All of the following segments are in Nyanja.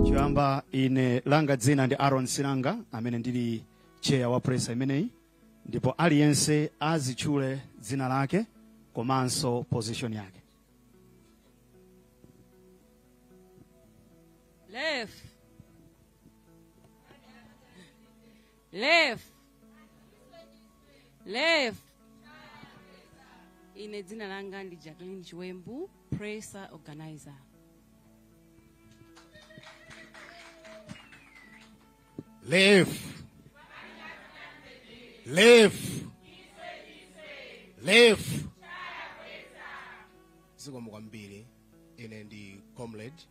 choyamba ine langa dzina ndi aron silanga amene ndili chair wa presser imeneyi ndipo aliyense azitchule dzina lake komanso position yake Lef. lef lef ine dzina langa ndi jacqueline chiwembu presser organizer Lef. Lef. Lef. zikomo kwambiri ine ndi comrade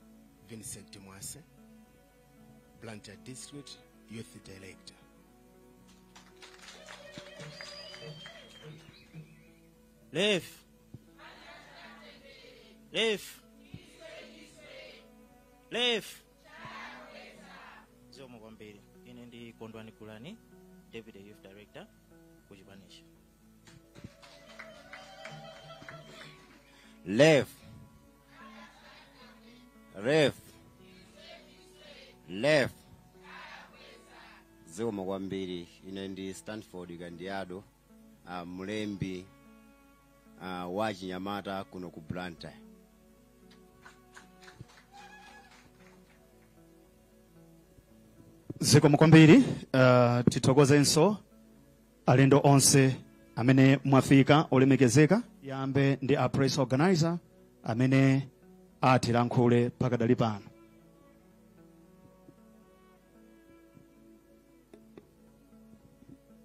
vincent mwase Blantyre District Youth Director. Lefu. Lefu. Lefu. Zikomo kwambiri. Ine ndi Kondwani Gulani, Deputy Youth Director ku chipani cha Lef. Lef. Lef. zikomo kwambiri ine ndi stanford kandiado uh, mlembi uh, wa achinyamata kuno ku blantyre zikomo kwambiri uh, tithokozenso alendo onse amene mwafika olemekezeka ayambe ndi a press organizer amene atilankhule pakadali pano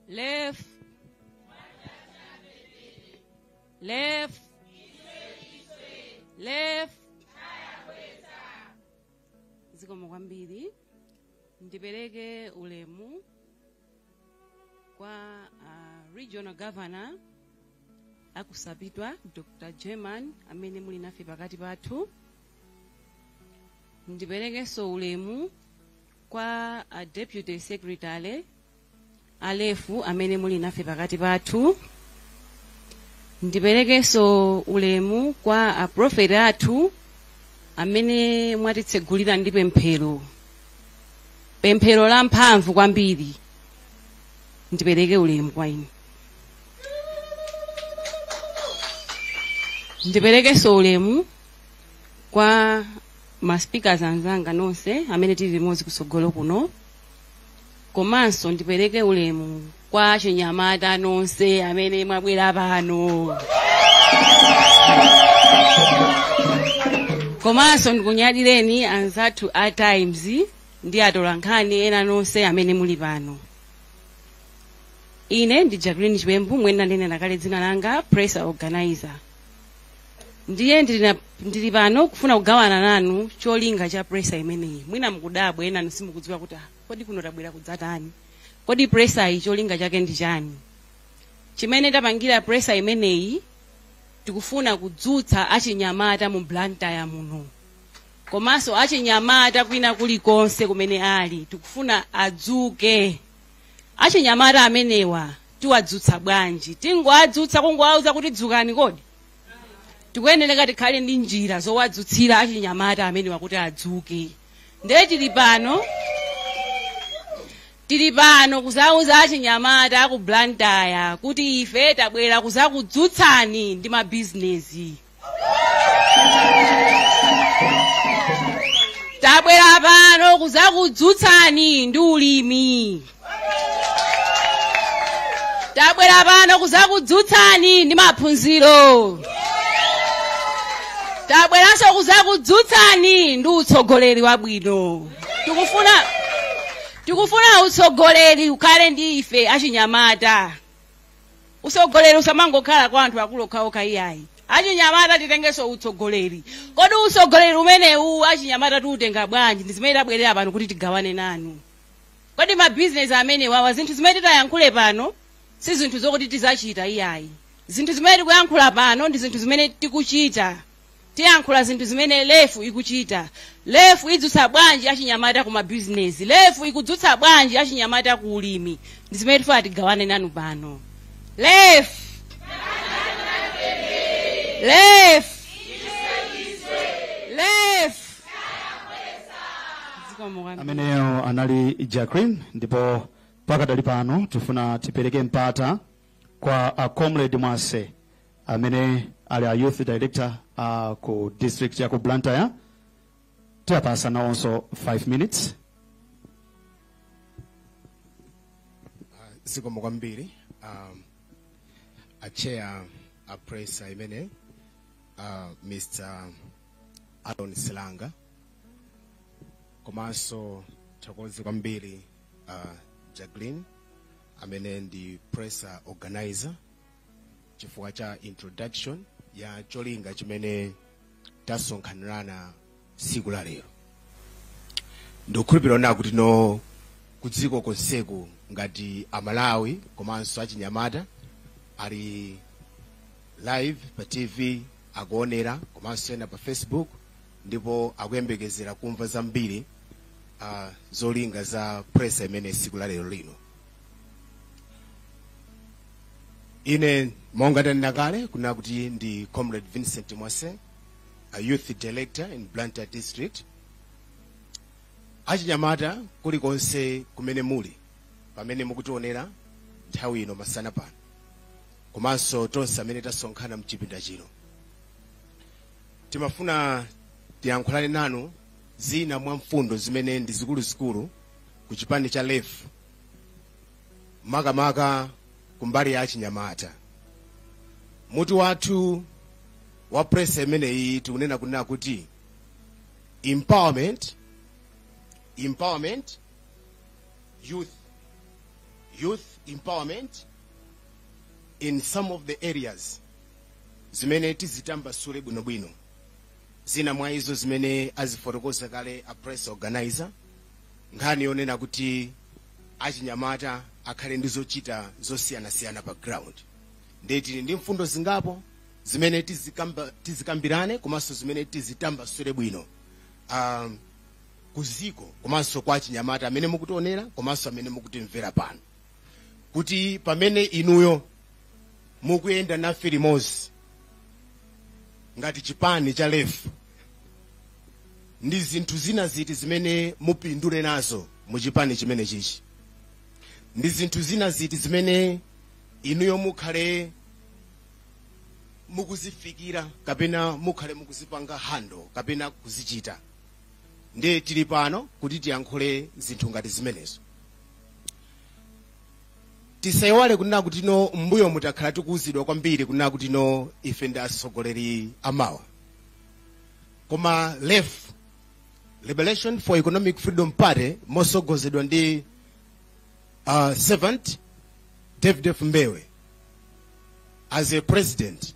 Lef. Lef. Lef. Zikomo kwambiri. ndipereke ulemu kwa uh, regional governor a ku sapitwa dr german amene muli nafe pakati pathu ndiperekenso ulemu kwa uh, deputy secretary a lefu amene muli nafe pakati pathu ndiperekenso ulemu kwa aprofeti athu amene mwatitsegulira ndi pemphero pemphero la mphamvu kwambiri ndipereke ulemu kwa inu ndiperekenso ulemu kwa ma speakers anzanga nonse amene tili limodzi kutsogolo kuno komanso ndipereke ulemu kwa achinyamata nonse amene mwabwera pano komanso ndikunyadireni anzathu a times ndi atolankhani ena nonse amene muli pano ine ndi jacqueline chipembu mwina ndinanena kale dzina langa presser organizer ndiye ndili na- ndili pano kufuna kugawana nanu cholinga cha presser imeneyi mwina mukudabwa enanu simukudziwa kuti kodi kuno tabwera kudzatani kodi presser iyi cholinga chake ndi chani chimene tapangira presser imeneyi tikufuna kudzutsa achinyamata mu blantyre muno komanso achinyamata kwina kulikonse kumene ali tikufuna adzuke achinyamata amenewa tiwadzutsa bwanji tingowadzutsa kungowauza kuti dzukani kodi tikuyenereka tikhale ndi njira zowadzutsira achinyamata amenewa kuti adzuke ndiye tili pano tili pano kuzauza achinyamata aku blantyre kuti ife tabwera kuzakudzutsani ndi mabizinesi tabwera pano kuzakudzutsani ndi ulimi tabwera pano kuzakudzutsani ndi maphunziro tabweranso kuzakudzutsani ndi utsogoleri wabwino tikufuna tikufuna utsogoleri ukhale ndi ife achinyamata utsogoleri usamangokhala kwa anthu akulu okhaokha iyayi achinyamata titengenso utsogoleri kodi utsogoleri umenewu achinyamata tiutenga bwanji ndi zimene tabwerera pano kuti tigawane nanu kodi mabizinesi amenewawa zinthu zimene titayankhule pano si zinthu zokuti tizachita iyayi zinthu zimene tikuyankhula pano ndi zinthu zimene tikuchita tiyankhula zinthu zimene lefu ikuchita lefu idzutsa bwanji achinyamata ku mabizinesi lefu ikudzutsa bwanji achinyamata ku ulimi ndi zimene tifuna tigawane nanu pano lefu lefu lefu zikomo kwambiri ameneyo anali jacqueline ndipo pakadali pano tifuna tipereke mpata kwa a comrade mwase amene ali a youth director a ku district ya ku blantyre tiwapatsa nawonso 5 minutes zikomo kwambiri um, a chair a presser imene uh, mr aaron silanga komanso ndithokoze kwambiri uh, jacqueline amene ndi press organizer chifukwa cha introduction ya cholinga chimene tasonkhanirana siku la lero ndikukhulupirira kuti no kudziko konseku ngati amalawi komanso achinyamata ali live pa tv akuonera komanso ena pa facebook ndipo akuyembekezera kumva zambiri uh, zolinga za presa imene siku la lero lino ine monga ndanena kale kunena kuti ndi comrade vincent mwase a youth director in blantyre district achinyamata kulikonse kumene muli pamene mukutionera nthawi ino masana pano komanso tonse amene tasonkhana mchipinda chino timafuna tiyankhulane nanu zina mwa mfundo zimene ndi zikuluzikulu ku chipani cha lef makamaka kumbali ya achinyamata mutu wathu wa presa imeneyi tikunena kunena kuti empowerment empowerment youth youth empowerment in some of the areas zimene tizitambasule bwinobwino zina mwa izo zimene azifotokoza kale a press organizer nkhani yonena kuti achinyamata akhale ndi zochita zosiyanasiyana pa ground ndiye tili ndi mfundo zingapo zimene tizikambirane komanso zimene tizitambasule bwino um, kuziko komanso kwa achinyamata amene mukutionera komanso amene mukutimvera pano kuti pamene inuyo mukuyenda nafe limodzi ngati chipani cha lef ndi zinthu zina ziti zimene mupindule nazo mu chipani chimene chichi ndi zinthu zina ziti zimene inuyo mukhale mukuzifikira kapena mukhale mukuzipanga handle kapena kuzichita ndiye tili pano kuti tiyankhule zinthu ngati zimenezo tisaiwale kunena kuti no m'mbuyomu takhala tikuuzidwa kwambiri kunena kuti no ife ndi atsogoleri amawa koma lef liberation for economic freedom party mosogozedwa ndi uh, servant df mbewe as a president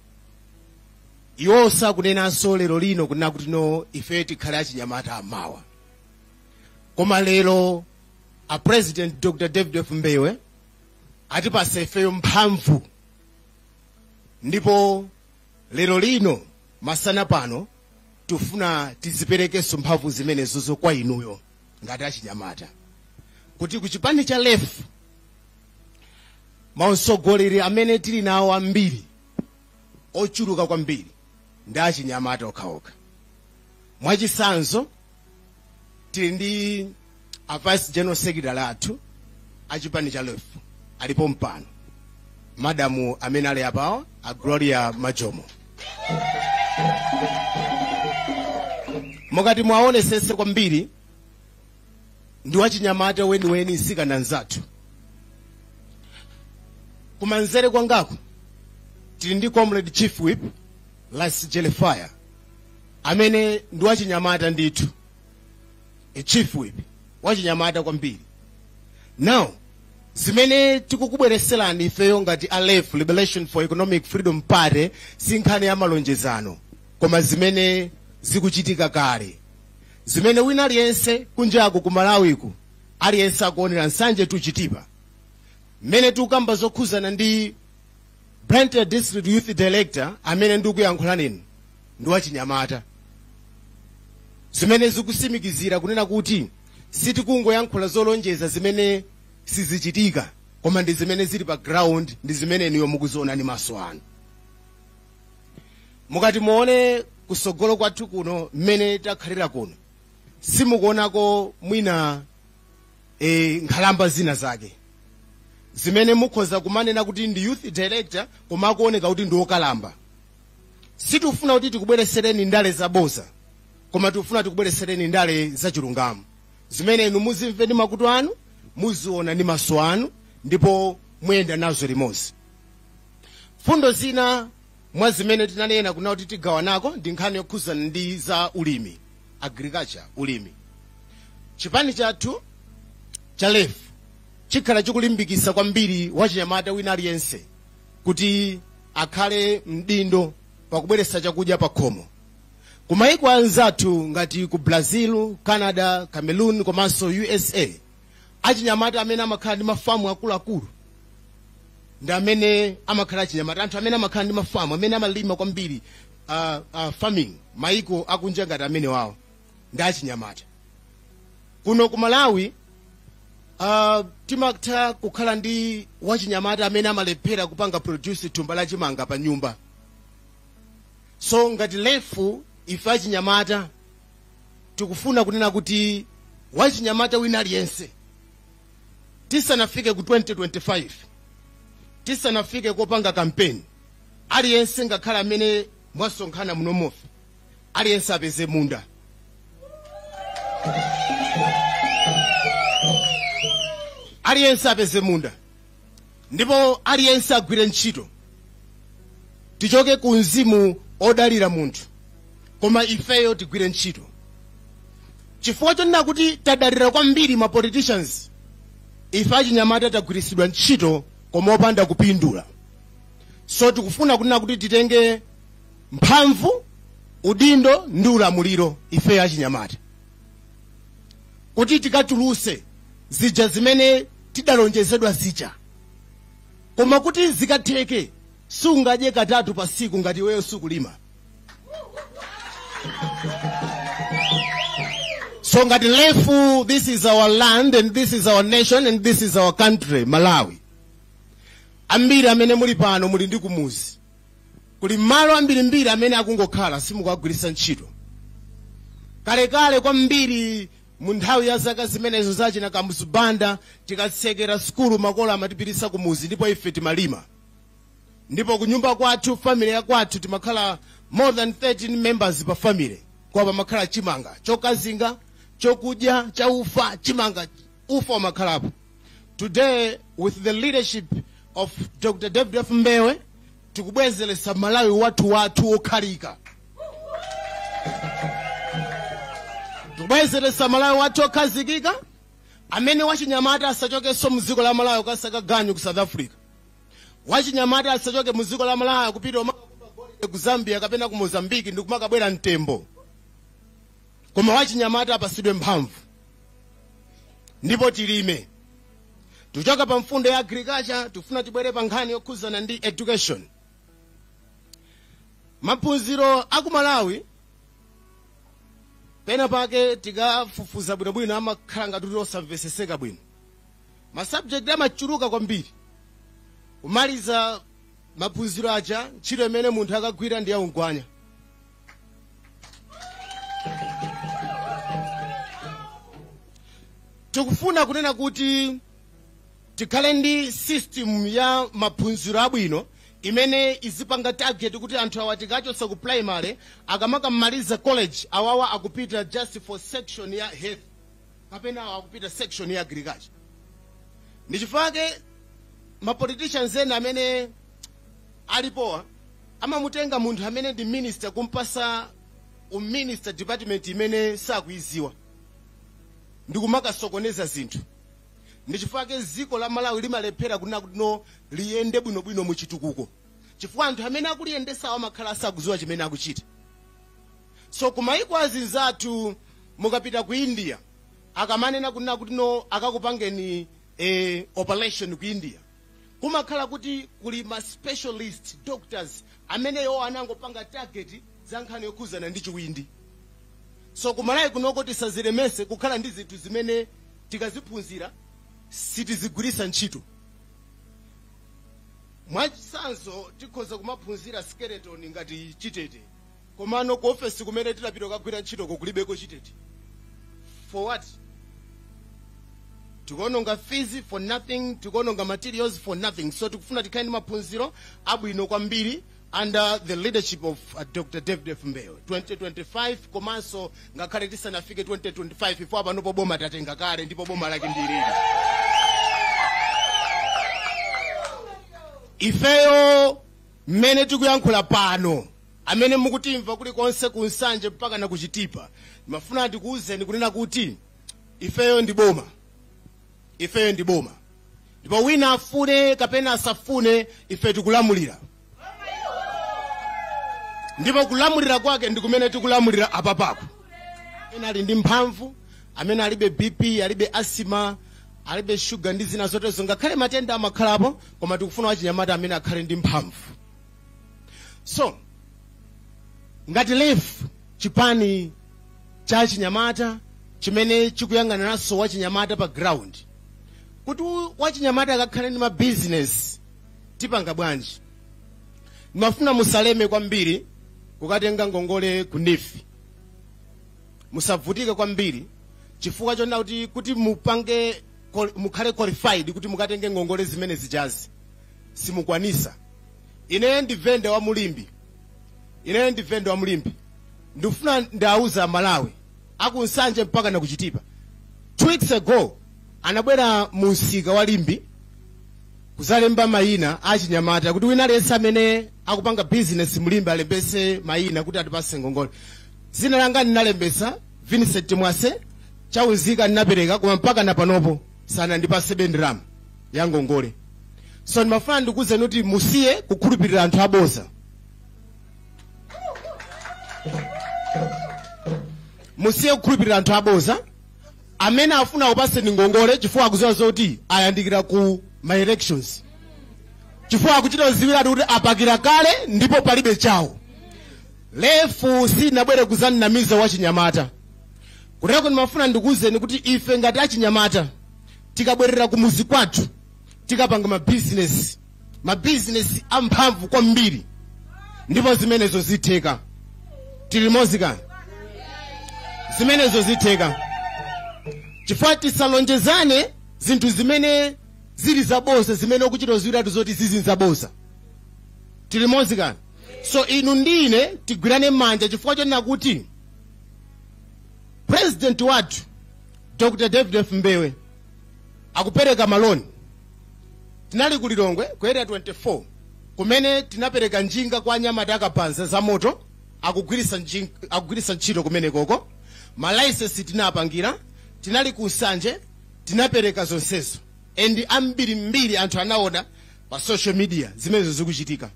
iwo sakunenanso lero lino kunena kuti no ife tikhale achinyamata amawa koma lero a president dr david f mbewe atipasa ifeyo mphamvu ndipo lero lino masana pano tifuna tiziperekenso mphamvu zimenezozo kwa inuyo ngati achinyamata kuti ku chipani cha lef mautsogoleri amene tili nawo ambiri ochuluka kwambiri ndi achinyamata okhaokha mwachisanzo tili ndi a vice general secretary athu a chipani cha lef alipo mpano madamu amene ali apawa a gloria majomo mukati muwaonesese kwambiri ndi wachinyamata weniweni nsikana nzathu kumanzere kwangako tili ndi comrade chief whip las jelefire amene ndi wachinyamata ndithu a chief whip wachinyamata kwambiri now zimene tikukubwereserani ifeyo ngati a lef liberation for economic freedom party si nkhani ya malonjezano koma zimene zikuchitika kale zimene wina aliyense kunjako ku malawiku aliyense akuonera nsanje tchutchutchu pa mmene tikukamba zokhuzana ndi blantyre district youth director amene ndikuyankhula nanu ndi wachinyamata zimene zikusimikizira kunena kuti sitikungoyankhula zolonjeza zimene sizichitika koma ndi zimene zili pa ground ndi zimene inuyo mukuziona ndi maso anu mukati muone kusogolo kwathu kuno mmene takhalira kuno simukuonako mwina e, nkhalamba zina zake zimene mukhoza kumanena kuti ndi youth director koma akuoneka kuti ndi okalamba sitifuna kuti tikubweresereni ndale zaboza koma tikufuna tikubweresereni ndale zachilungamo zimene inu muzimve ndi makutu anu muziona ndi maso anu ndipo muyenda nazo limodzi fundo zina Mwa zimene tinanena kunena kuti tigawanako ndi nkhani yokhuzana ndi za ulimi, agriculture, ulimi. Chipani chathu cha lef chikhala chikulimbikisa kwambiri wachinyamata wina aliyense kuti akhale mdindo pakubweretsa chakudya pakhomo. Ku maiko anzathu ngati ku Brazil, Canada, Cameroon komanso usa, achinyamata amene amakhala ndi mafamu akuluakulu ndi amene amakhala achinyamata anthu amene amakhala ndi mafamu amene amalima kwambiri uh, uh, farming maiko akunja ngati amenewawo ndi achinyamata kuno ku malawi uh, timatha kukhala ndi wachinyamata amene amalephera kupanga produce thumba la chimanga pa nyumba so ngati lef ife achinyamata tikufuna kunena kuti wachinyamata wina aliyense tisanafike ku 2025 tisanafike kopanga kampeni aliyense ngakhale amene mwasonkhana munomofe aliyense apeze munda aliyense apeze munda ndipo aliyense agwire ntchito tichoke ku mzimu odalira munthu koma ifeyo tigwire ntchito chifukwa chonena kuti tadalira kwambiri ma politicians ife achinyamata tagwiritsidwa ntchito koma opanda kupindula so tikufuna kunena kuti titenge mphamvu udindo ndi ulamuliro ifeyo achinyamata kuti tikatuluse zija zimene tidalonjezedwa zija koma kuti zikatheke sungadye katatu pa tsiku ngati iweyo sukulima so ngati LEF this is our land and this is our nation and this is our country malawi ambiri amene muli pano muli ndi kumuzi kuli malo ambirimbiri amene akungokhala simukuwagwiritsa ntchito kalekale kwambiri mu nthawi ya zaka zimenezo zachina kamuzu banda tikatsekera sukulu makolo amatipititsa kumuzi ndipo ife timalima ndipo kunyumba kwathu family ya kwathu timakhala more than 13 members pa family koma pamakhala chimanga chokazinga chokudya chaufa chimanga ufa umakhalapo today with the leadership of dr david f mbewe tikubwezeretsa malawi wathu okhalika tikubwezeretsa malawi wathu okhazikika amene wachinyamata asachokenso mu dziko la malawi kukasaka ganyu ku south africa wachinyamata asachoke mu dziko la malawi kupita ku zambia kapena ku mozambiki ndi kumakabwera mtembo koma wachinyamata apasidwe mphamvu ndipo tilime tikuchoka pa mfundo ya agriculture tifuna tibwere pa nkhani yokhuzana ndi education maphunziro aku malawi pena pake tikafufuza bwinobwino amakhala ngati kuti osamveseseka bwino masabjekti amachuluka kwambiri kumaliza maphunziro aja ntchito imene munthu akagwira ndi yaungwanya tikufuna kunena kuti tikhale ndi system ya maphunziro abwino imene izipanga target kuti anthu awa tikachotsa ku primary akamakamaliza college awawa akupita just for section ya health kapena awa akupita section ya agriculture ndichifukwa chake mapoliticians ena amene alipowa amamutenga munthu amene ndi minister kumpasa uminister department imene sakuiziwa ndikumakasokoneza zinthu ndichifukwa chake ziko la malawi limalephera kunena kuti no liyende bwinobwino mu chitukuko chifukwa anthu amene akuliyendesawo amakhala asakuziwa chimene akuchita so kumayiko azinzathu mukapita ku india akamanena kunena kuti no akakupangeni eh, operation ku india kumakhala kuti kuli ma specialist doctors amene iwo anangopanga target za nkhani yokhuzana ndi chiwindi so kumalawi kunoko tisazilemese kukhala ndi zinthu zimene tikaziphunzira sitizigwiritsa ntchito mwachitsanzo tikhoza kumaphunzira skeleton ngati chitete komano ku ofesi kumene tilapita kukagwira ntchitoko kulibeko chitete for what tikuononga fees for nothing tikuononga materials for nothing so tikufuna tikhale ndi maphunziro abwino kwambiri under the leadership of uh, dr david f mbewe 2025 komanso ngakhale tisanafike 2025 ifeyo panopo boma tatenga kale ndipo boma lake ndilili ifeyo mmene tikuyankhula pano amene mukutimva kulikonse ku nsanje mpaka na ku chitipa mafuna ndikuwuzeni kunena kuti ifeyo ndi boma ifeyo ndi boma ndipo wina afune kapena asafune ife tikulamulira ndipo kulamulira kwake ndi kumene tikulamulira apapako amene ali ndi mphamvu amene alibe bp alibe asima alibe shuga ndi zina zoterozo ngakhale matenda amakhalapo koma tikufuna wachinyamata amene akhale ndi mphamvu so ngati lef chipani cha chinyamata chimene chikuyang'aniranso wachinyamata pa ground kuti u- wachinyamata akakhale ndi mabizinesi tipanga bwanji ndimafuna musaleme kwambiri kukatenga ngongole ku neef musavutike kwambiri chifukwa chonena kuti kuti mupange qual- mukhale qualified kuti mukatenge ngongole zimene zijazi simukwanisa ine ndi venda wa mu limbe ine ndi venda wa mu limbe ndikufuna ndiwawuze amalawi akunsanje mpaka nakuchitipa two weeks ago anabwera mu msika wa limbe kuzalemba mayina achinyamata kuti wina aliyense amene akupanga bizinesi mu limbe alembese mayina kuti atipase ngongole zina langa ndinalembesa vincent mwase chaunzika ndinapereka koma mpaka napanopo sanandipase be ndalama ya ngongole so ndimafuna ndikuwuzeni kuti musiye kukhulupirira anthu aboza musiye kukhulupirira anthu aboza amene afuna akupatseni ngongole chifukwa akuziwa zoti ayandikira ku ma elections chifukwa akuchita ziwiratu kuti apakira kale ndipo palibe chawo LEF sinabwere kuzanamiza wachinyamata kutero ndimafuna ndikuwuzeni kuti ife ngati achinyamata tikabwerera kumuzi kwathu tikapanga mabizinesi mabizinesi amphamvu kwambiri ndipo zimenezo zitheka tili limodzi kani zimenezo zitheka chifukwa tisalonjezane zinthu zimene zili zaboza zimene ukuchita ziwiratu zoti izizi zaboza tili limodzi kani so inu ndi ine tigwirane manja chifukwa chonena kuti president wathu dr david f mbewe akupereka maloni tinali ku lilongwe ku area 24 kumene tinapereka njinga kwa anyamata akabaza za moto akugwiritsa njin- akugwiritsa ntchito kumenekoko malaisensi tinapangira tinali ku nsanje tinapereka zonsezo and ambirimbiri anthu anaona pa social media zimenezo zikuchitika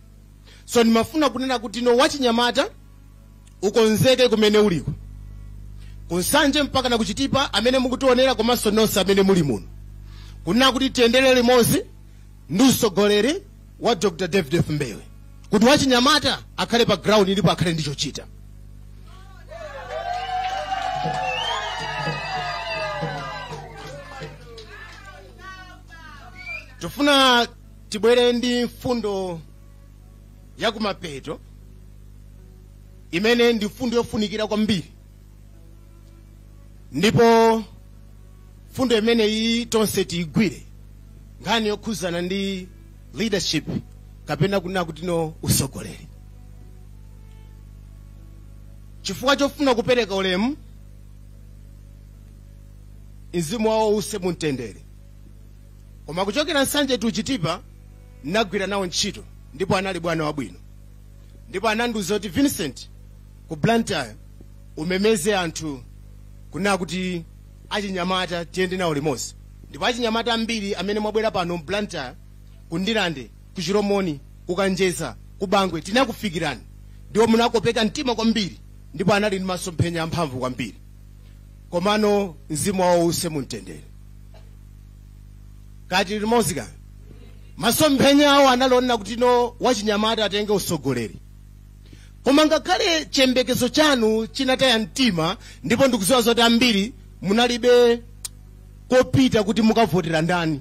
so ndimafuna kunena kuti no wachinyamata ukonzeke kumene uliko ku nsanje mpaka na ku chitipa amene mukutionera komanso nonse amene muli muno kunena kuti tiyendere limodzi ndi usogoleri wa dr david f mbewe kuti wachinyamata akhale pa ground ndipo akhale ndi chochita tifuna tibwere ndi mfundo yakumapeto imene ndi mfundo yofunikira kwambiri ndipo mfundo imeneyi tonse tiyigwire nkhani yokhuzana ndi leadership kapena kunena kuti no usogoleri chifukwa chofuna kupereka ulemu mzimu wawo uuse mumtendere koma kuchokera nsanje to chitipa ndinagwira nawo ntchito ndipo anali bwana wabwino ndipo anandiuza kuti vincent ku blantyre umemeze anthu kunena kuti achinyamata tiyende nawo limodzi ndipo achinyamata ambiri amene mwabwera pano mu blantyre ku ndirande ku chilomoni ku kanjedza ku bangwe tinakufikirani ndipo munakopeka mtima kwambiri ndipo anali ndi masomphenya amphamvu kwambiri komano mzimu wawo uuse mumtendere ka tili limodzi ka masomphenya awo anali onena kuti no wachinyamata atenge usogoleri koma ngakhale chiyembekezo chanu chinataya mtima ndipo ndikuziwa zoti ambiri munalibe kopita kuti mukavotera ndani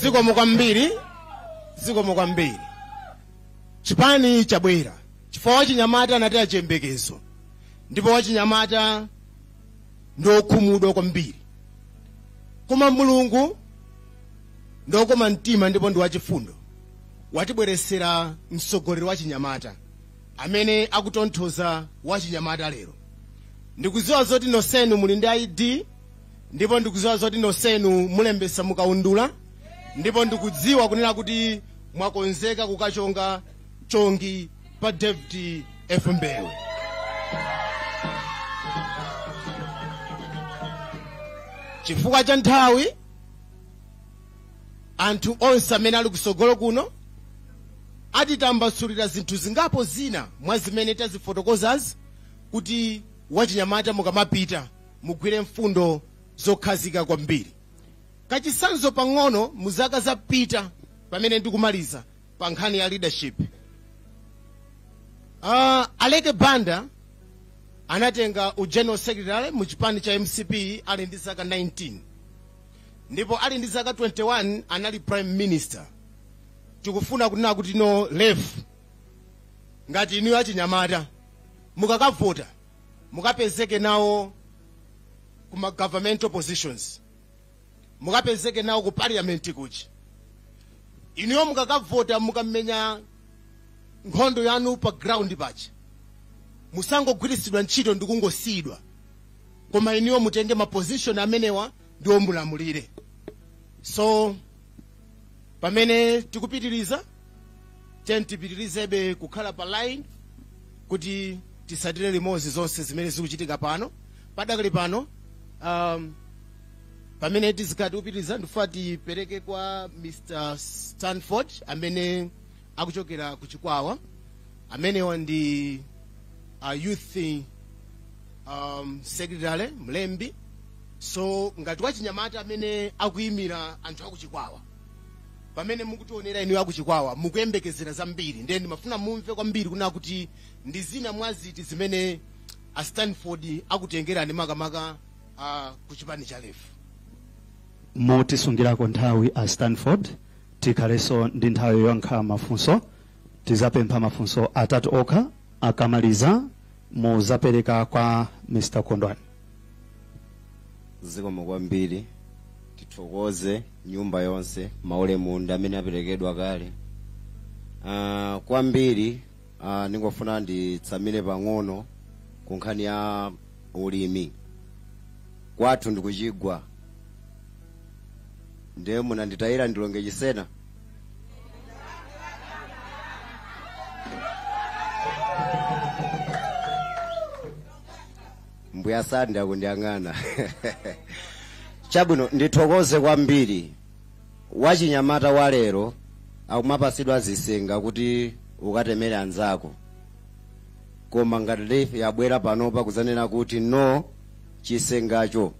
zikomo kwambiri zikomo kwambiri chipani chabwera chifukwa wachinyamata anataya chiyembekezo ndipo wachinyamata ndi okhumudwa kwambiri koma mulungu ndi okoma mtima ndipo ndi wachifundo watibweresera mtsogoleri wachinyamata amene akutonthoza wachinyamata lero ndikuziwa zoti nosenu muli ndi id ndipo ndikudziwa zoti nonsenu mulembesa mukaundula ndipo ndikudziwa kunena kuti mwakonzeka kukachonga chongi pa david f mbewe chifukwa cha nthawi anthu onse amene ali kusogolo kuno atitambasulira zinthu zingapo zina mwa zimene tazifotokozazi kuti wachinyamata mukamapita mugwire mfundo zokhazika kwambiri kachisanzo pang'ono mu zaka zapita pamene ndikumaliza pa nkhani ya leadership uh, aleke banda anatenga u general secretary mu chipani cha mcp ali ndi zaka 19 ndipo ali ndi zaka 21 anali prime minister tikufuna kunena kuti mu lef ngati inuyo achinyamata mukakavota mukapezeke nawo ku ma governmental positions mukapezeke nawo ku parliament kuti inuyo mukakavota mukamenya nkhondo yanu pa ground pa kuti musangogwiritsidwa ntchito ndi kungosiyidwa koma inuyo mutenge ma position amenewa ndipo mulamulire so pamene tikupitiriza tiyeni tipitirizebe kukhala pa line kuti tisatire limodzi zonse zimene zikuchitika pano padakali pano um, pamene tizikhala tikupitiriza ndifuna tipereke kwa mr stanford amene akuchokera ku chikwawa amenewa ndi uh, youth um, secretary mlembi so ngati wachinyamata amene akuyimira anthu akuchikwawa pamene mukutionera inuyo akuchikwawa mukuyembekezera zambiri ndiye ndimafuna mumve kwambiri kuna kuti ndi zina mwa ziti zimene a stanford akutengerani makamaka uh, ku chipani cha lef mutisungirako nthawi a stanford Tikhalenso ndi nthawi yoyankha mafunso. Tizapempha mafunso atatu okha. Akamaliza muzapereka kwa Mr Kondwani. zikomo kwambiri tithokoze nyumba yonse maulemu ndi amene aperekedwa kale Ah, kwambiri ah, ndingofuna nditsamire pang'ono ku nkhani ya ulimi kwathu ndikuchigwa ndiye munanditayira ndilonge chisena mbuya sandi akundiyang'ana chabwino ndithokoze kwambiri wachinyamata wa lero akumapatsidwa zisenga kuti ukatemere anzako koma ngati yabwera panopa kudzanena kuti no chisengacho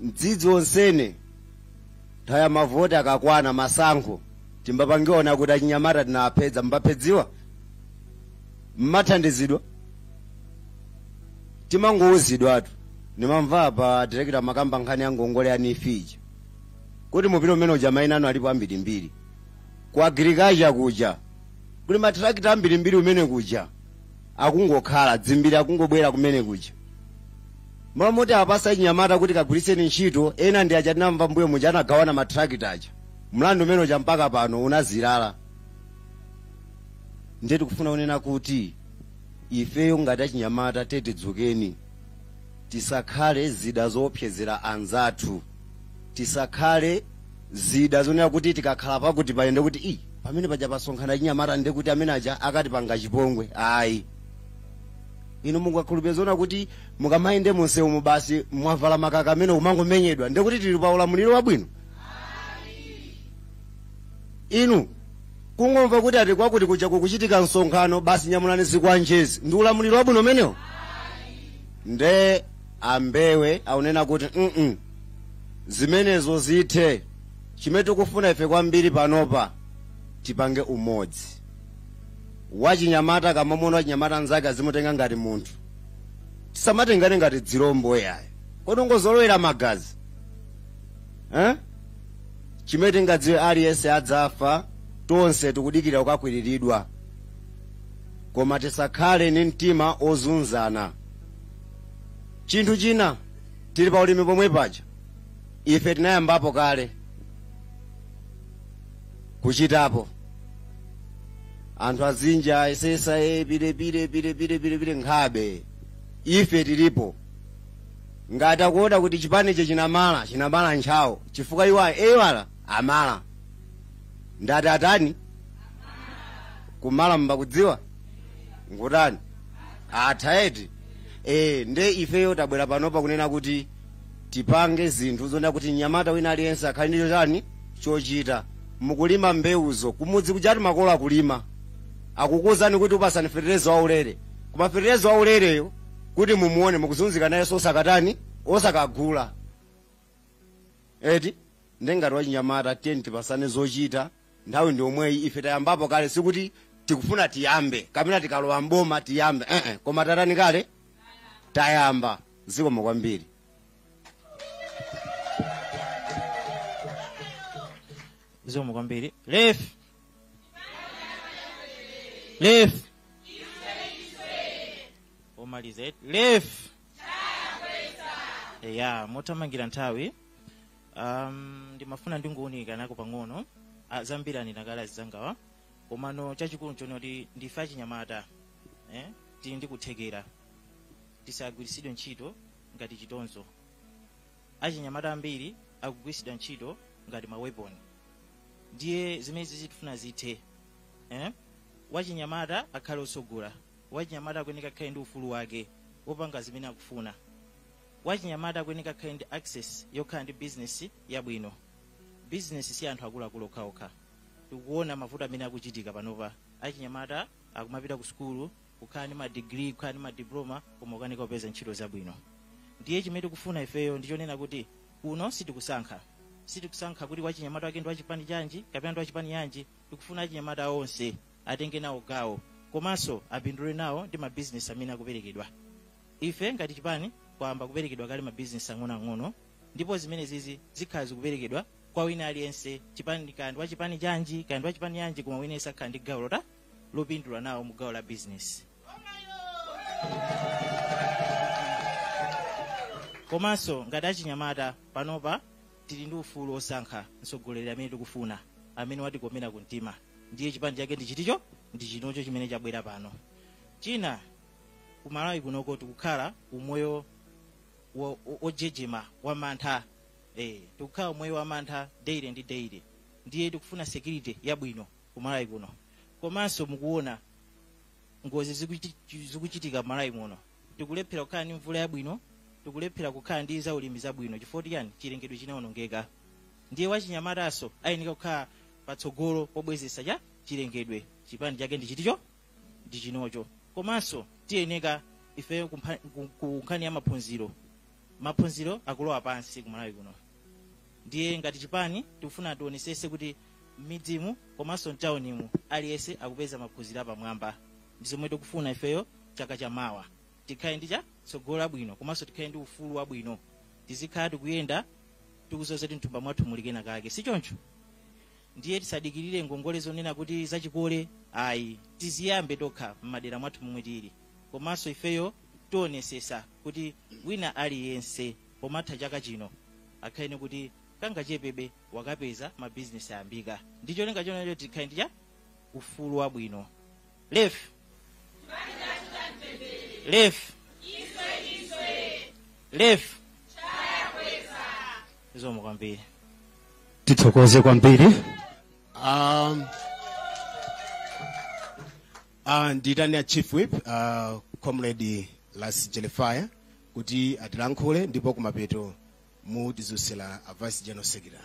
mdzidzi onsene nthawi ya mavoti akakwana masankho timbapangiona kuti achinyamata tinawapedza mbapedziwa mmathandizidwa timangouzidwatu nimamva pa direkita mumakamba nkhani ya ngongole ya NEEF kuti mupite umene uja maina anu alipo ambirimbiri ku agirikacha kuja kuli matrakita ambirimbiri kumene kuja akungokhala dzimbiri akungobwera kumene kuja mmalo moti apatse achinyamata kuti kagwiritseni ntchito ena ndi aja tinamva mbuyo muja anagawana matrakita aja mlandu umene uja mpaka pano unazilala ndiye tikufuna kunena kuti ifeyo ngati achinyamata tidzukeni tisakhale zida zoopsezera anzathu tisakhale zida zonena kuti tikakhala pakuti pali ndekuti i pamene paja pasonkhana achinyamata ndekuti amene aja akatipanga chipongwe ayi inu mungakhulupirire zoona kuti mukamayenda munsewu mu basi mwavala makaka amene umangomenyedwa ndekuti tili pa ulamuliro wabwino inu kungomva kuti ati kwakuti kuja kukuchitika msonkhano basi nyamulani zikwanjezi ndi ulamuliro wabwino umenewo nde ambewe akunena kuti mm zimenezo zithe chimene tikufuna ife kwambiri panopa tipange umodzi wachinyamata akamamuona wachinyamata nzake azimutenga ngati munthu tisamatengane ngati dzilombo yayi kodi ungozolowera magazi eh? chimene tingadziwe aliyense adzafa tonse tikudikira kukakwiriridwa koma tisakhale ndi mtima ozunzana chinthu china tili pa ulimi pomwe paja ife tinayambapo kale kuchitapo anthu azinja ayesesa e pilepile pilepile pilepile nkhabe ife tilipo ngati akuona kuti chipanicho chinamala chinamala ntchawo chifukwa iwo eyala amala ndati atani kumala mbakudziwa ngutani atha eti e, nde ifeyo tabwera panopa kunena kuti tipange zinthu zonena kuti mnyamata wina aliyense akhale ndicho chani chochita mukulima mbewuzo kumudzi kujati makolo akulima akukuuzani kuti akupasani fetereza waulere koma fetereza waulereyo kuti mumuone mukuzunzika nayeso osakatani osakagula eti nde ngati achinyamata tiyeni tipasane zochita nthawi ndi yomweyi ife tayambapo kale sikuti tikufuna tiyambe kapena tikalowa mboma tiyambe eh eh. koma tatani kale tayamba zikomo kwambiri zikomo kwambiri lef lef omaliza lef ya mothamangira nthawi um, ndimafuna ndingounikanako pang'ono ah, zambiri anena kale azinzangawa komano chachikulu nchonena kuti ndife achinyamata eh? tili ndi kuthekera tisagwiritsidwe ntchito ngati chitonzo achinyamata ambiri akugwiritsidwa ntchito ngati maweponi ndiye zimenezizi tifuna zithe eh? wachinyamata akhale otsogola wachinyamata akuyeneka akhale ndi ufulu wake wopanga zimene akufuna wachinyamata akuyeneka akhale ndi access yokhala ndi bizinesi yabwino bizinesi si anthu akuluakulu okhaokha tikuona mavuto amene akuchitika panopa achinyamata akumapita ku sukulu kukhala ndi madigiri kukhala ndi madiploma koma ukanika kupeza ntchito zabwino ndiye chimene tikufuna ifeyo ndichonena kuti kuno sitikusankha sitikusankha kuti wachinyamata wake ndi wachipani chanji kapena ndi wachipani chanji tikufuna achinyamata onse atenge nawo gawo komanso apindule nawo ndi mabizinesi amene akuperekedwa Ife ngati chipani kwayamba kuperekedwa kale ma business ang'onoang'ono ndipo zimenezizi zikhala zikuperekedwa kwa wina aliyense chipani kaya ndi wa chipani chanji kaya ndi wa chipani chanji koma wina aliyense akhala ndi gawo lota lopindula nawo mu gawo la business komanso ngati achinyamata panopa tili ndi ufulu wosankha mtsogoleri amene tikufuna amene watikomera kumtima ndiye chipani chake ndi chiticho ndi chinocho chimene chabwera pano china ku malawi kunoko tikukhala umoyo wo- wo- wojejema wamantha eh, tikukhala umoyo wamantha daily ndi daily ndiye tikufuna security yabwino ku malawi kuno komanso mukuona ngozi zikuchi- zikuchitika malawi muno tikulephera kukhala ndi mvula yabwino tikulephera kukhala ndi zaulimi zabwino chifukwa chiyani chilengedwe chinaonongeka ndiye wachinyamatanso ayeneka kukhala patsogolo pobwezeretsa cha chilengedwe chipani chake ndi chiticho ndi chinocho komanso tiyeneka ifeyo ku nkhani ya maphunziro maphunziro akulowa pansi kumalawi kuno ndiye ngati chipani tikufuna tionesese kuti m'midzimu komanso mtaunimu aliyense akupeza maphunziro apamwamba ndi zomwe tikufuna ifeyo chaka cha mawa tikhale ndi cha tsogolo labwino komanso tikhale ndi ufulu wabwino tizikhala tikuyenda tikuziwa kuti m'thumba mwathu muli kenakake si choncho ndiye tisadikirire ngongole zonena kuti zachikole ayi tiziyambe tokha m'madera mwathu momwe tili komanso ifeyo tionesesa kuti wina aliyense pomatha chaka chino akhale kuti kangachepebe wakapeza mabizinesi ayambika ndi cholinga chonena choti tikhale ndi cha ufulu wabwino lefi lefi lefi zikomo kwambiri tithokoze kwambiri um, uh, ndiitane a chief whip uh, comrade las jelefire kuti atilankhule ndipo kumapeto mutidzutsira a vice general secretary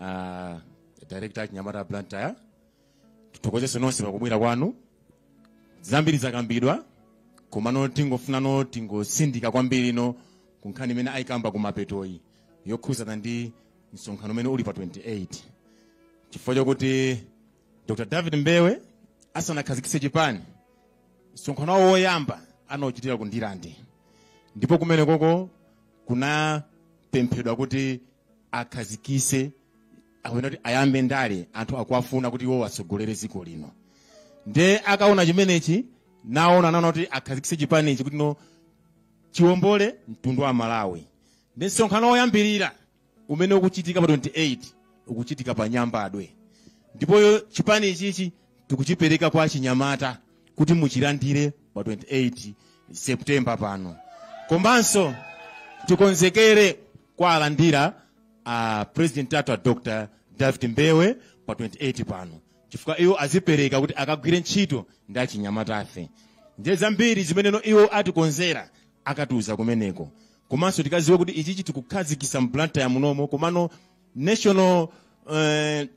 uh, director wa achinyamata blantyre tithokozenso nonse pakubwera kwanu zambiri zakambidwa komano tingofuna no tingosindika kwambiri no kunkhani imene ayikamba kumapetoyi yokhuzana ndi msonkhano umene uli pa 28 chifukwa chokuti dr david mbewe asanakhazikitse chipani msonkhano wawo woyamba anauchitira ku ndirande ndipo kumenekoko kunapemphedwa kuti akhazikise kapena kuti ayambe ndale anthu akuwafuna kuti iwo atsogolere dziko lino nde ataona chimenechi naona anaona kuti akhazikise chipanichi kuti no chiwombole mtundu wa malawi nde msonkhano woyambirira umene ukuchitika pa 28 ukuchitika pa nyambadwe ndipo chipani ichichi tikuchipereka kwa achinyamata kuti muchilandire pa 28 september pano komanso tikonzekere kuwalandira a president athu a dr david mbewe pa 28 pano chifukwa iwo azipereka kuti akagwire ntchito ndi achinyamatafe ndiye zambiri zimeneno iwo atikonzera akatiuza kumeneko komanso tikaziwe kuti ichichi tikukhazikisa mblantyre munomo komano national eh,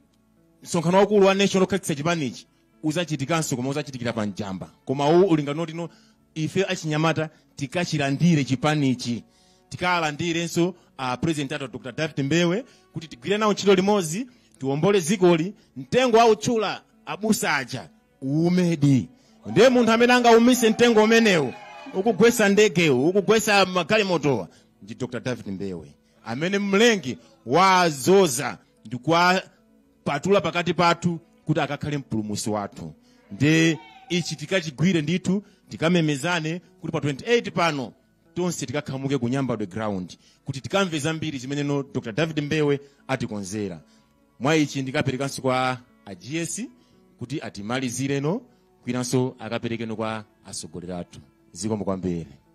msonkhano waukulu wa national okhazikitsa chipanichi uzachitikanso koma uzachitikira pa njamba koma uwu ulinga kuti no ife achinyamata tikachilandire chipanichi tikalandirenso a president athu dr david mbewe kuti tigwire nawo ntchito limodzi tiwombole zikoli mtengo autchula abusa aja uumedi ndiye munthu amene angaumise mtengo umenewu ukugwesa ndegewu ukugwesa magalimotowa ndi dr david mbewe amene mlengi wazoza ndi kuwapatula pakati pathu kuti akakhale mpulumusi wathu ndiye ichi tikachigwire ndithu tikamemezane kuti pa 28 pano tonse tikakhamuke ku nyambadwe ground kuti tikamve zambiri zimene no dr david mbewe atikonzera mwa ichi ndikaperekanso kwa a gs kuti atimalizireno kwinanso akaperekeno kwa atsogoleri athu zikomo kwambiri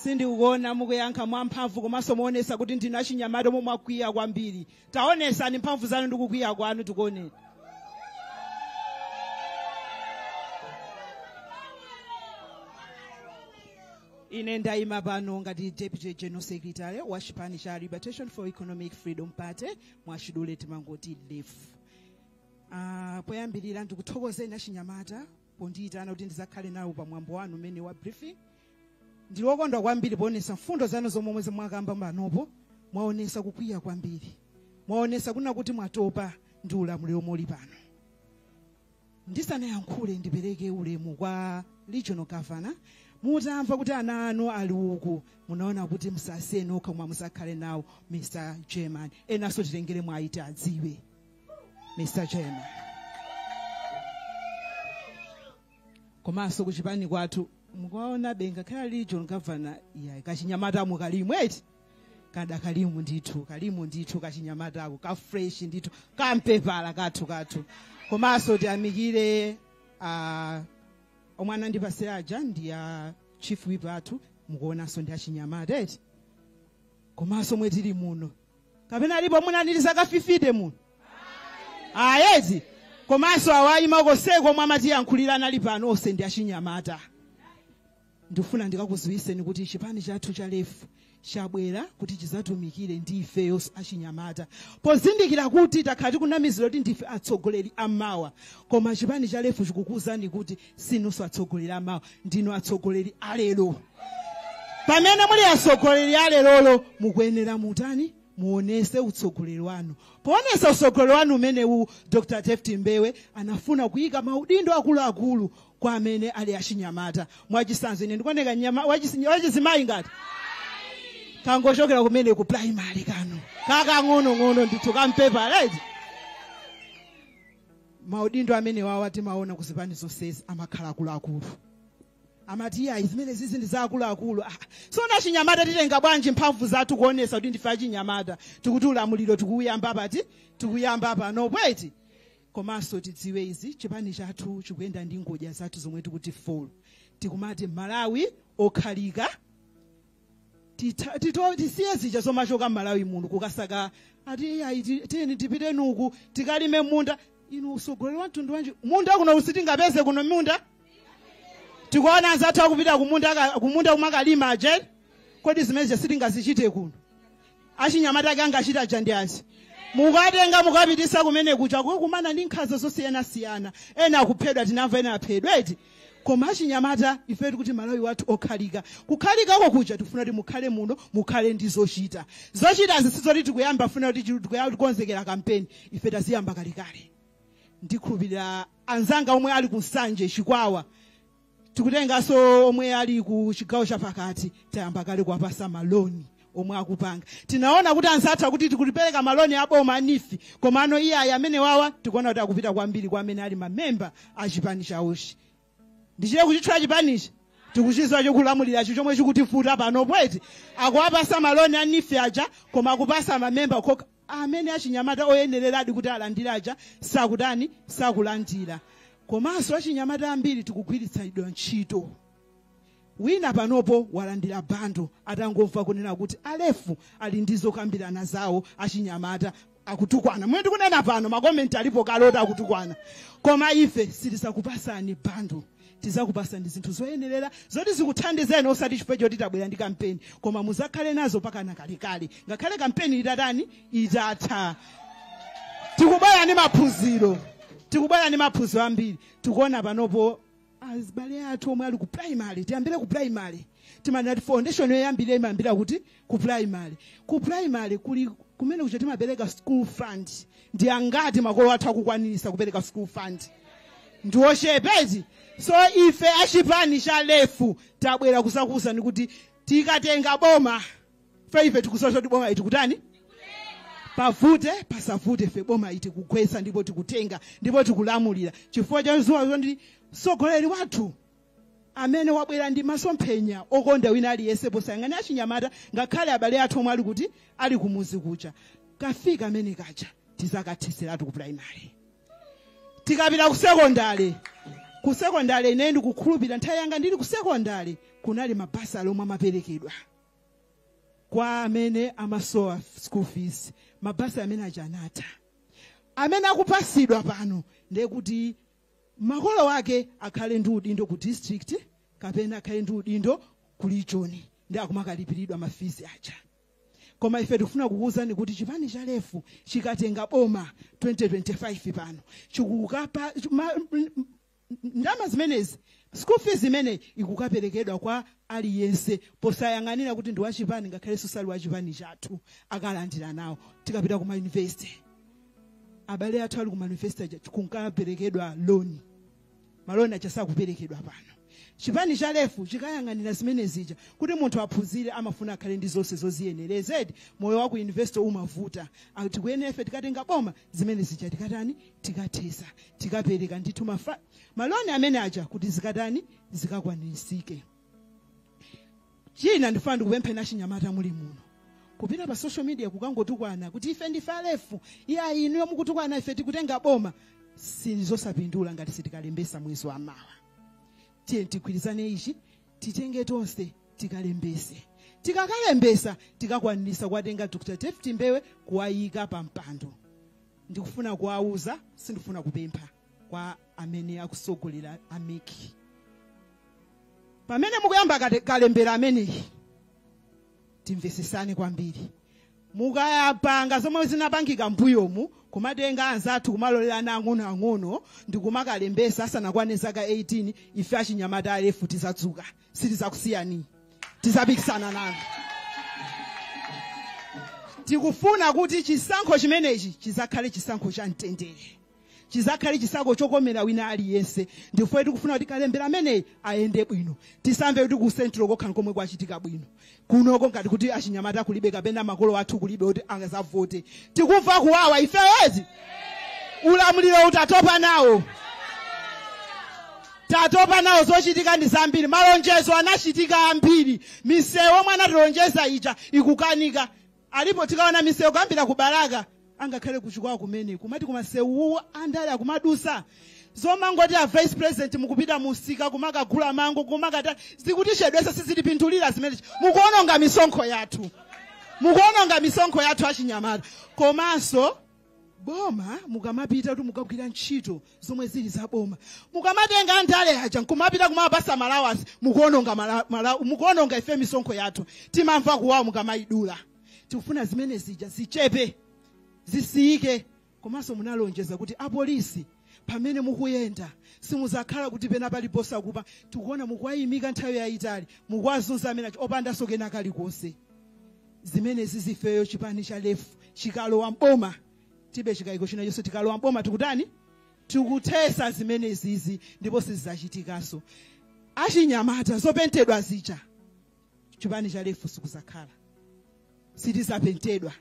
sindikuona mukuyankha mwamphamvu komanso muonesa kuti ndinu achinyamata omwe mwakwiya kwambiri taonesani mphamvu zanu ndi kukwiya kwanu tikuone ine ndayima pano ngati deputy general secretary wa chipani cha liberation for economic freedom party mwachidule timangoti lef uh, poyambirira ndikuthokozeni achinyamata pondiyitana kuti ndizakhale nawo pa mwambo wanu umene wa briefing ndili wokondwa kwambiri poonesa mfundo zanu zomwe mwakamba panopo mwaonesa kukwiya kwambiri mwaonesa kuna kuti mwatopa ndi ulamuliro omwe uli pano ndisanayankhule ndipereke ulemu kwa regional governor mutamva kuti ana anu ali uku munaona kuti musasiyeni okha koma musakhale nawo mr chairman enanso titengere mwayiti adziwe mr chairman komanso kuchipani kwathu mukuona bwenzi akakhala regional governor yayi kachinyamata mukalimo eti kadakalimo ndithu kalimo ndithu kachinyamatako ka fresh ndithu kampepala kathu kathu komanso tiyamikire ah, omwe anandipase aja ndi a chief whip athu mukuonanso ndi achinyamata eti komanso mwe tili muno kapena alipo mwina ali ndi zaka 50 muno ayi eti komanso awayima konseko omwe amatiyankhulira anali pano onse ndi achinyamata ndifuna ndikakuziwiseni kuti chipani chathu cha lefu chabwera kuti chizatumikire ndi ifeyo achinyamata pozindikira kuti takhala tikunamizidwa kuti ndife atsogoleri amawa koma chipani cha lefu chikukuwuzani kuti sinunso atsogoleri amawa ndinu atsogoleri alero pamene muli atsogoleri alerolo mukuyenera mutani muonese utsogoleri wanu poonesa utsogoleri wanu umenewu dr david mbewe anafuna kuyika maudindo akuluakulu kwa amene ali achinyamata mwachisanzo ine ndikuoneka nyama- wachis- wachizimayi ngati kangochokera kumene ku primary kano kakang'onong'ono ndithu kampepa right maudindo amenewawa timaona ku zipani zonsezi amakhala akuluakulu amati iyayi zimene zizi ndi za akuluakulu Ah, tsono achinyamata titenga bwanji mphamvu zathu kuonesa kuti ndife achinyamata tikuti ulamuliro tikuuyamba pati tikuyamba pano eti komanso tidziwe izi chipani chathu chikuyenda ndi ngodya zathu zomwe tikuti four tikumati malawi okhalika Tita- tito- tisiye zija zomachoka malawi muno kukasaka ati iyayi ti- tiyeni tipite uku tikalime munda inu usogoleri wa mtundu wanji munda kuno sitingapeze kuno munda tikuona anzathu akupita kumunda aka- kumunda kumakalima ajeni kodi zimene zija sitingazichite kuno achinyamata ake angachita aja ndi azi mukatenga mukapitisa kumene kuja kukakumana ndi nkhanza zosiyanasiyana ena akuphedwa tinamva ena aphedwa eti koma achinyamata ife tikuti malawi wathu okhalika kukhalikako kuja tikufuna kuti mukhale muno mukhale ndi zochita zochitazi sizoti tikuyamba funa kuti chi- tikuyamba tikonzekera kampeni ife taziyamba kalekale ndikhulupirira anzanga omwe ali ku nsanje chikwawa tikutenganso omwe ali ku chigawo chapakati tayamba kale kuwapasa maloni omwe akupanga tinaona kuti anzathu akuti tikupereka maloni aboma a neef komano iye amenewawa tikuona kuti akupita kwambiri kwa amene ali mamemba a chipani chawochi ndichite kuchitchula chipanichi tikuchiziwa chokulamuliracho chomwe chikutivuta panopo eti akuwapasa maloni a neef aja koma akupasa mamemba okha amene achinyamata oyenereradi kuti alandire aja sakutani, sakulandira. Komanso achinyamata ambiri tikugwiritsidwa ntchito. Wina panopo walandira bundle atangomva kunena kuti a LEF ali ndi zokambirana zawo achinyamata akutukwana. Momwe ndikunena pano makomenti alipo kale oti akutukwana. Koma ife sitizakupasani bundle. tizakupasani zinthu zoyenerera zoti zikuthandizeni osati chifukwa choti tabwera ndi kampeni koma muzakhale nazo mpakana kalekale ngakhale kampeni itatani itatha tikubwera ndi maphunziro tikubwera ndi maphunziro ambiri tikuona panopo azibale athu omwe ali ku primary tiyambire ku primary timanena kuti foundation yoyambira imayambira kuti ku primary ku primary kuli kumene kuja timapereka school fund ndi angati makolo athu akukwanirisa kupereka school fund ndi ochepezi so ife achipani cha lef tabwera kuzakuwuzani kuti tikatenga bomafe ife tikuziwa kuti bomali tikutani pavute pasavute ife bomali tikugwetsa ndipo tikutenga ndipo tikulamulira chifukwa cha zuwa zondi mtsogoleri wathu amene wabwera ndi masomphenya okonda wina aliyense posayang'ana achinyamata ngakhale abale athu omwe ali kuti ali kumuzi kuja ka fee kamene kaja tizakathiseratu ku primary tikapita ku sekondale ku sekondale ine ndikukhulupirira nthawi yanga ndili ku sekondale kunali mabasale omwe amaperekedwa kwa amene amasowa school fees mabasale amene aja anatha amene akupasidwa pano ndekuti makolo ake akhale ndi udindo ku district kapena akhale ndi udindo ku region ndi akumakalipiridwa mafizi aja koma ife tikufuna kukuwuzani kuti chipani cha lefu chikatenga boma 2025 pano chikukapa ma- m- m- ndalama zimenezi school fees imene ikukaperekedwa kwa aliyense posayang'anira kuti ndi wachipani ngakhalenso sali wachipani chathu akalandira nawo tikapita ku mayunivesite abale athu ali ku mayunivesite aja kunkaperekedwa loni maloni aja sakuperekedwa pano chipani cha lefu chikayang'anira zimene zija kuti munthu aphunzire amafuna akhale ndi zonse zoziyenereza eti moyo wa ku yunivesito umavuta Ah, tikuyenera ife tikatenga boma zimene zija tikatani tikathesa tikapereka ndithu mafa- maloni amene aja kuti zikatani zikakwanirisike china ndifuna ndikupempheni achinyamata muli muno kupita pa social media kukangotukwana kuti ife ndife alefu iya inuyo mukutukwana ife tikutenga boma sizizapindula ngati sitikalembesa mwezi wa mawa tiye tigwirizane ichi titenge tonse tikalembese tikakalembesa tikakwanisa kuwatenga dr david mbewe kuwayika pa mpando ndikufuna kuwauza sindifuna kupempha kwa amene akusogolera a MEC pamene mukuyamba kate- kalembera ameneyi timvesesane kwambiri mukayapanga zomwe zinapangika mbuyomu kumatenga anzathu kumalolela ana ang'onoang'ono ndi kumakalembesa asanakwane zaka 18 ife achinyamata alefu tizadzuka sitizakusiyani tizapikisana nanu tikufuna kuti chisankho chimenechi chizakhale chisankho cha mtendere chizakhale chisankho chokomera wina aliyense ndifukwa tikufuna kuti kalembera ameneyi ayende bwino tisamve kuti ku central kokha nkomwe kwachitika bwino kunoko ngati kuti achinyamata kulibe kapena makolo athu kulibe kuti angazavote tikumva kuwawa ifeyezi ulamuliro uwu tatopa nawo tatopa nawo zochitika ndi zambiri malonjezo anachitika ambiri misewu omwe anatilonjeza ija ikukanika Alipo tikaona misewu kuyambira ku Balaka angakhale ku Chikwawa kumene kumati koma msewuwu andale akumadusa zomangoti a vice president mukupita musika kumakagula mango kumakata zikutichedwesa sizitipindulira zimenezi mukuononga misonkho yathu mukuononga misonkho yathu achinyamata komanso boma mukamapita kuti mukagwira ntchito zomwe zili za boma mukamatenga andale aja nkumapita kumapasa ma allowance mukuononga mala- mala- mukuononga ife misonkho yathu timamva kuwawa mukamayidula tikufuna zimene zija zichepe zisiyike komanso munalonjeza kuti apolisi pamene mukuyenda simuzakhala kuti pena paliponse akupa tikuona mukuwayimika nthawi yayitali mukuwazunza amene achi- opandanso kena kalikonse zimene zizi ifeyo chipani cha lefu chikalowa mboma tilibe chikayiko china chonse tikalowa mboma tikutani tikuthesa zimene zizi ndipo sizizachitikanso achinyamata zopentedwa zija chipani cha lefu sikuzakhala sitizapentedwa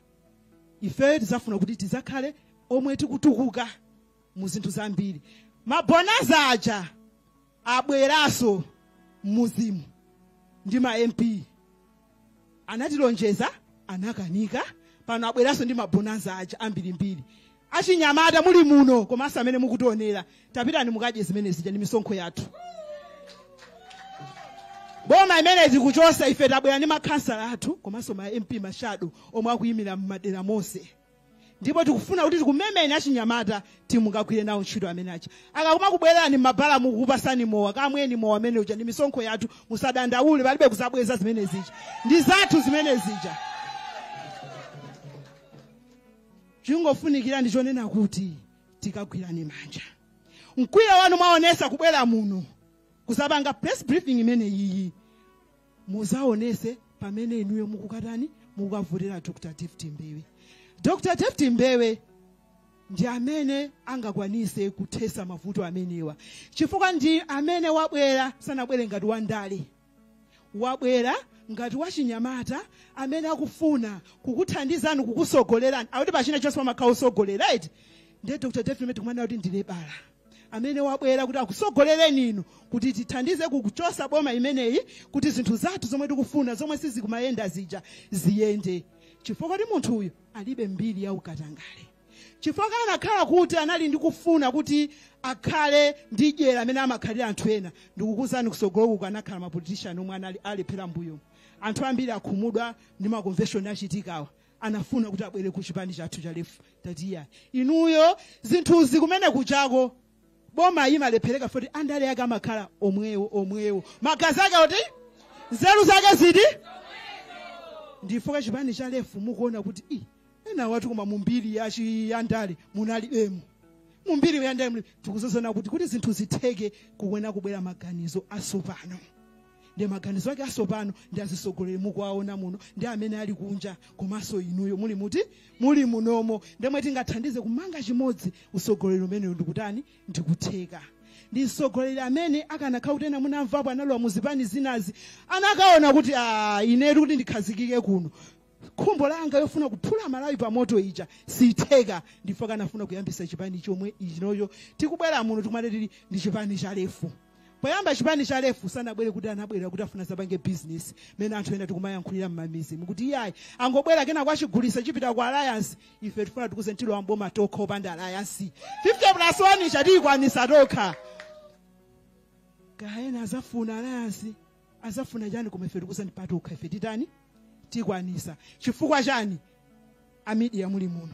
ifeyo tizafuna kuti tizakhale omwe tikutukuka mu zinthu zambiri mabonanza aja abweranso mmuzimu ndi ma mp anatilonjeza anakanika pano abweranso ndi mabonanza aja ambirimbiri achinyamata muli muno komanso amene mukutionera tapitani mukadye zimene zija ndi misonkho yathu boma imene zikuchosa ife tabwera ndi makhansala athu komanso ma mp mashado omwe akuyimira m'madera monse ndipo tikufuna kuti tikumemeni achinyamata timukagwire nawo ntchito amene aja akakuma kubwererani m'mabala mukupasani mowa kamweni mowa amene uja ndi misonkho yathu musadandaule palibe kuzabweza zimene zija ndi zathu zimene zija chingofunikira ndi chonena kuti tikagwirane manja mkwiyo wanu mwaonesa kubwera muno kuzapanga press briefing imene iyi muzaonese pamene inuyo mukukatani mukavotera dr david mbewe dr david mbewe ndi amene angakwanise kuthesa mavuto amenewa chifukwa ndi amene wabwera sanabwere ngati wandale wabwera ngati wachinyamata amene akufuna kukuthandizani kukusogolerani akuti pachina chonse pamakhala osogolera right ndiye dr david mbewe tikumana kuti ndilebala amene wabwera kuti akusogolereni inu kuti tithandize kukuchosa boma imeneyi kuti zinthu zathu zomwe tikufuna zomwe sizikumayenda zija ziyende chifukwa kuti munthu uyu alibe mbiri ya ukatangale chifukwa anakhala kuti anali ndi kufuna kuti akhale ndi dyera amene amakhalira anthu ena ndikukuuzani kusogoloku kukanakhala mapolitishani omwe analephera mbuyo anthu ambiri akhumudwa ndi makonveshoni achitikawa anafuna kuti abwere ku chipani chathu cha lefu tati iya inuyo zinthuzi kumene kuchako boma imalephereka poti andale ake amakhala omwewo omwewo magazi ake oti nzeru zake ziti ndi ife a chipani cha lefu mukuona kuti i ena watu koma mumbiri ya chi- ya ndale munalibemo mumbiri ya ndale muli- tikuzozana kuti kuti zinthu zitheke kuyenera kubwera maganizo asopano ndiye maganizo ake asopano ndi azisogoleri mukuwaona muno ndi amene ali kunja komanso inuyo muli muti muli munomo ndi omwe tingathandize kumanga chimodzi usogoleri umeneyo ndikutani ndikutheka ndi msogoleri amene akanakhala kuti ena munamvapo analowa muzipani zinazi akanaona kuti "Ah, inetu kuti ndikhazikike kuno khumbo langa yofuna kuphula malawi pa moto ija sitheka ndi pokanafuna kuyambisa chipani chomwe chinocho tikubwera muno tikumati tili ndi chipani cha lefu poyamba chipani cha lefu sanabwere kuti anabwera kuti afuna azapange business mene anthu ena tikumayankhulira mmamidzi mukuti iyayi angobwera kena kuzachigulitsa chipita ku alliance ife tifuna tikuuzeni tilowa mboma tokha opanda alliance 50 plus 1 ija tiyikwanisa tokha kaena azafuna alliance azafuna chani koma ife tikuuzani patokha ife titani tikwanisa chifukwa chani amidiya muli muno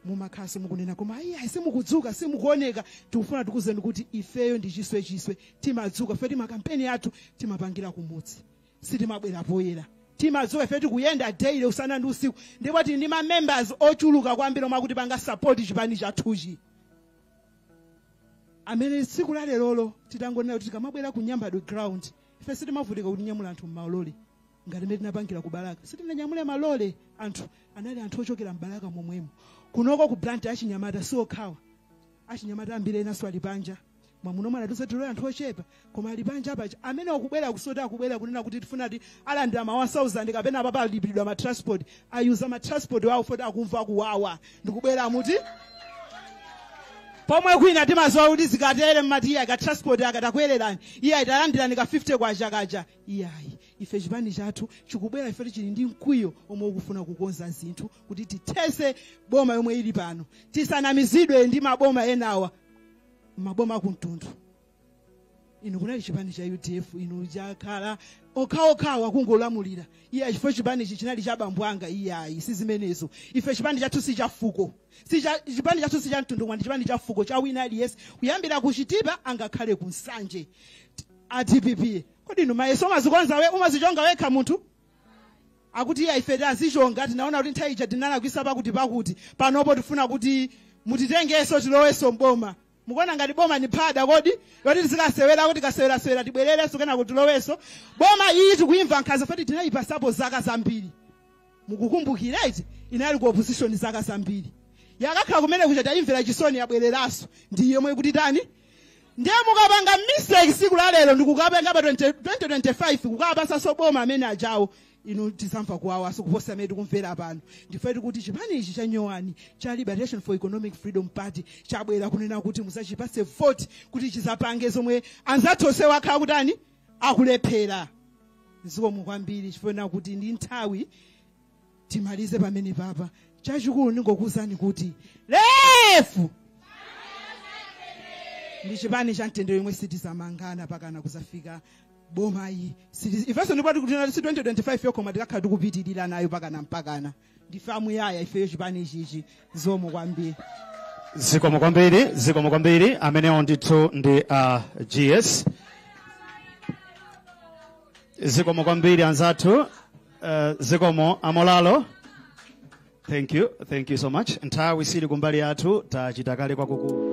mumakhala simukunena koma ayi ayi simukudzuka simukuoneka tikufuna tikuuzeni kuti ifeyo ndi chiswe chiswe timadzuka ife timakampeni athu timapangira kumudzi sitimabwera poyera timadzuka ife tikuyenda daily usana ndi usiku ndipo tili ndi mamembers ochuluka kwambiri omwe akutipanga support chipani chathuchi amene tsiku la lerolo titangonena kuti tikamabwera ku nyambadwe ground ife sitimavutika kuti tinyamula anthu mmalole ngati mmene tinapangira ku balaka sitinanyamule malole anthu anali anthu ochokera mbalaka momwemo kunoko ku blantyre achinyamata si okhawa achinyamata ambiri enanso ali panja mwamuno mwaona tisati ndi anthu ochepa koma ali panja paja amene akubwera osati akubwera kunena kuti tifuna tizalandira ma 1000 kapena apapa alipiridwa ma transport ayuza ma transport wawo poti akumva kuwawa ndikubwera muti pomwe kwina timazolowera kuti zikatere mmati iyayi ka transport akatakwererani iyayi talandirani ka 50 kwacha kaja iyayi ife chipani chathu chikubwera ife chili ndi mkwiyo omwe ukufuna kukonza zinthu kuti tithese boma yomwe ili pano tisanamizidwe ndi maboma enawa maboma akumtundu inu kunali chipani cha udf inu chakhala okhaokhawo akungolamulira iyayi chifukwa chipani ichi chinali cha bambo anga iyayi si zimenezo ife chipani chathu si cha fuko si cha- chipani chathu si cha mtundu ndi chipani cha fuko cha wina aliyense kuyambira kuchitipa angakhale ku nsanje a dpp kodi inu mayeso umazikonza we- umazichonga wekha munthu akuti iya ife tazichonga tinaona kuti nthawi ija tinalakwisa pakuti pakuti panopo tifuna kuti mutitengeso tiloweso mboma mukuona ngati boma ni phada kodi yoti tizikasewera kuti tikasewerasewera tibwererenso kenaka tilowenso boma iyi tikuimva nkhanza poti tinayipasapo zaka zambiri mukukumbukira eti inali ku opposition zaka zambiri yakakhala kumene kuja tayimvera chisoni yabwereranso ndi yomwe ikutitani ndiye mukapanga mistake siku la lero ndikukapanga pa 20 2025 kukapasanso boma amene ajawo inu tizamva kuwawanso kuposa mmene tikumvera pano ndipo tikuti chipani ichi cha nyowani cha liberation for economic freedom party chabwera kunena kuti muzachipase vote kuti chizapange zomwe anzathu onsewa akhala akutani akulephera zikomo kwambiri chifukwa choti ndi nthawi timalize pamenepapa chachikulu ndingokuwuzani kuti lefu ndi chipani cha mtendere yomwe sitizamangana pakana kuzafika boma iyi Sili- ifenso ndipo tikuti si 2025 yokha koma tikakhala tikupitirira nayo pakana mpakana ndife a muyaya ifeyo chipani ichichi zikomo kwambiri zikomo kwambiri zikomo kwambiri amenewo ndithu ndi uh, gs zikomo kwambiri anzathu uh, zikomo a Molalo thank you thank you so much nthawi sili kumbali yathu tachita kale kwakukulu